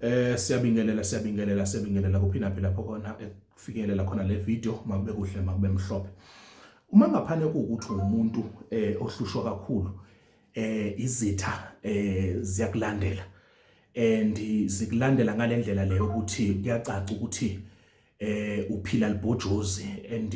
Eh siyabingelela siyabingelela siyabingelela kuphina phela lapho khona ekufinyelela khona le video makube kuhle makube mhlophe. Uma ngaphane ukuthi umuntu eh ohlushwa kakhulu eh izitha eh ziyakulandela and zikulandela ngalendlela leyo ukuthi kuyacaca ukuthi eh uphila libhojozi and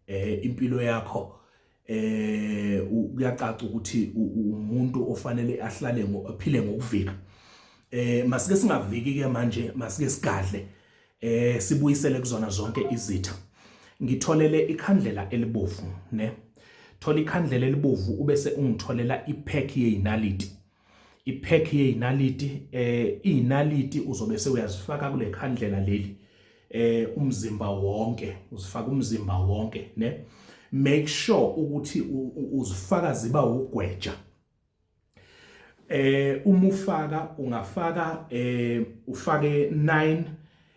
eh impilo yakho eh kuyacaca ukuthi umuntu ofanele ahlale ngophile ngokuvika eh masike singaviki ke manje masike sigadle eh sibuyisele kuzona zonke izitha ngitholele ikhandlela elibovu ne thola ikhandlela elibovu ubese ungitholela ipack yeinaliti iphekhi yeyinaliti eh izinaliti uzobe sewuyazifaka kule khandlela leli eh umzimba wonke uzifaka umzimba wonke ne make sure ukuthi uzifaka ziba ugweja eh uma ufaka ungafaka eh ufake 9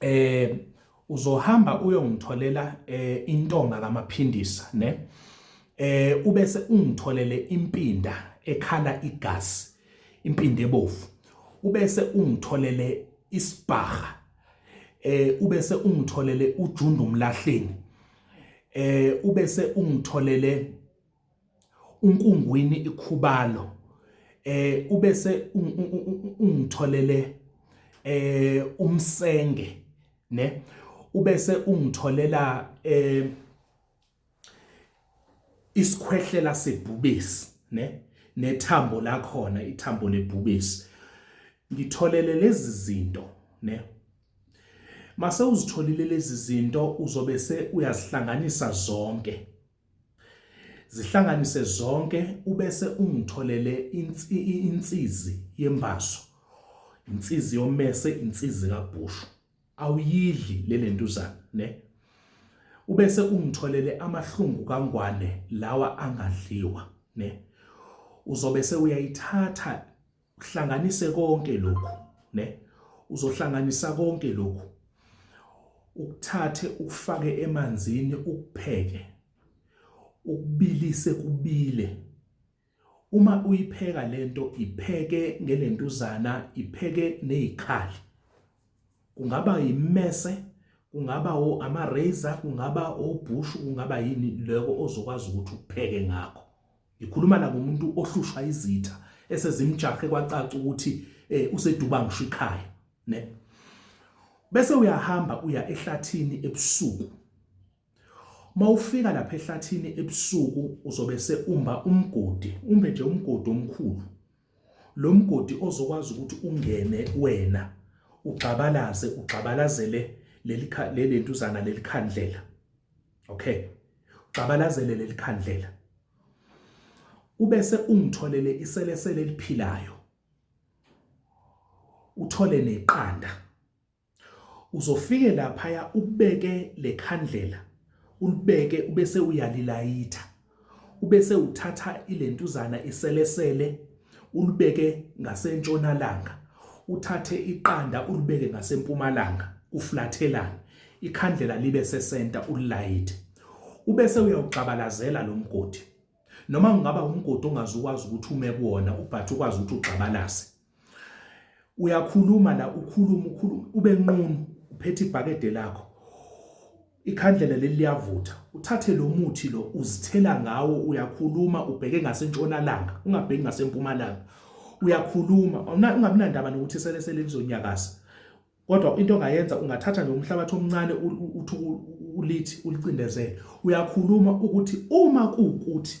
eh uzohamba uyongitholela eh intonga kamaphindisa ne eh ubese ungitholele impinda ekhala igazi impinda ebovu ubese ungitholele isibhaha eh ubese ungitholele ujundu umlahleni eh ubese ungitholele uNkungwini iKhubalo ubese ungitholele uMsenge ne ubese ungitholela isikhwehlela sebhubesi ne nethambo lakhona ithambo lebhubesi ngitholele lezi zinto ne mase uzitholile lezi zinto uzobe se uyazihlanganisa zonke Zihlanganise zonke ubese ungitholele insizi yembazo, insizi yomese, insizi kabhushu. Awuyidli le lentuzana ne. Ubese ungitholele amahlungu kangwane lawa angadliwa ne. Uzobe sewuyayithatha uhlanganise konke lokhu ne uzohlanganisa konke lokhu ukuthathe ukufake emanzini ukupheke ukubilise kubile uma uyipheka lento ipheke ngelentuzana ipheke nezikhali kungaba imese kungaba o ama razor kungaba obhushu kungaba yini loko ozokwazi ukuthi upheke ngakho Ngikhuluma la ngomuntu ohlushwa izitha esezimjahe kwacaca ukuthi eh useduba ngisho ikhaya ne bese uyahamba uya ehlathini ebusuku mawufika lapha ehlathini ebusuku uzobe seumba umgodi umbe nje umgodi omkhulu lo mgodi ozokwazi ukuthi ungene wena ugxabalaze ugxabalazele leli leli ntuzana leli khandlela okay ugxabalazele leli khandlela ubese ungitholele iselesele eliphilayo uthole neqanda Uzofike laphaya ubeke lekhandlela ulibeke ubese uyalilayitha ubese uthatha ilentuzana iselesele ulibeke ngasentshonalanga uthathe iqanda ulibeke ngasempumalanga kuflathelane ikhandlela libe sesenta ulilayithe ubese uyawugxabalazela lo mgodi noma kungaba umgodi ongazukwazi ukuthi ume kuwona ubhathe ukwazi ukuthi ugxabalaze Uyakhuluma la ukhuluma ukhuluma ube nqunu uphethe ibhakede lakho. Ikhandlela leli liyavutha. Uthathe lo muthi lo uzithela ngawo uyakhuluma ubheke ngasentshonalanga ungabheki ngasempumalanga. Uyakhuluma ungabi nandaba nokuthi sele sele lizonyakaza. Kodwa into ongayenza ungathatha nje umhlabathi omncane uthi ulithi ulicindezele. Uyakhuluma ukuthi uma kuwukuthi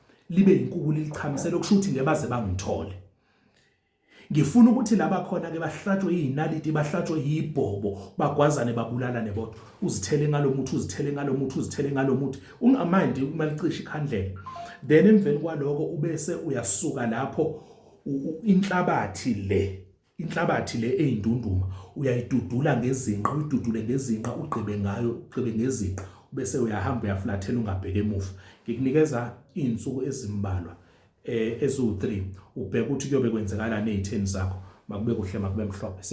libe inkukula ilichamisela okusho ukuthi ngeke baze bangithole ngifuna ukuthi laba khona ke bahlatshwe izinaliti bahlatshwe yibhobo bagwazane babulalane bodwa uzithele ngalomuthi uzithele ngalomuthi uzithele ngalomuthi ungamandi umalicisha ikhandlela then emveni kwaloko ubese uyasuka lapho inhlabathi le inhlabathi le eyindunduma uyayidudula ngezinqa uyidudule ngezinqa ugqibe ngayo ugqibe ngezinqa bese uyahamba uyaflathela ungabheke emuva ngikunikeza izinsuku ezimbalwa eh eziwu3 ubheka ukuthi kuyobe kwenzakalani ezitheni zakho makube kuhle makube mhlophe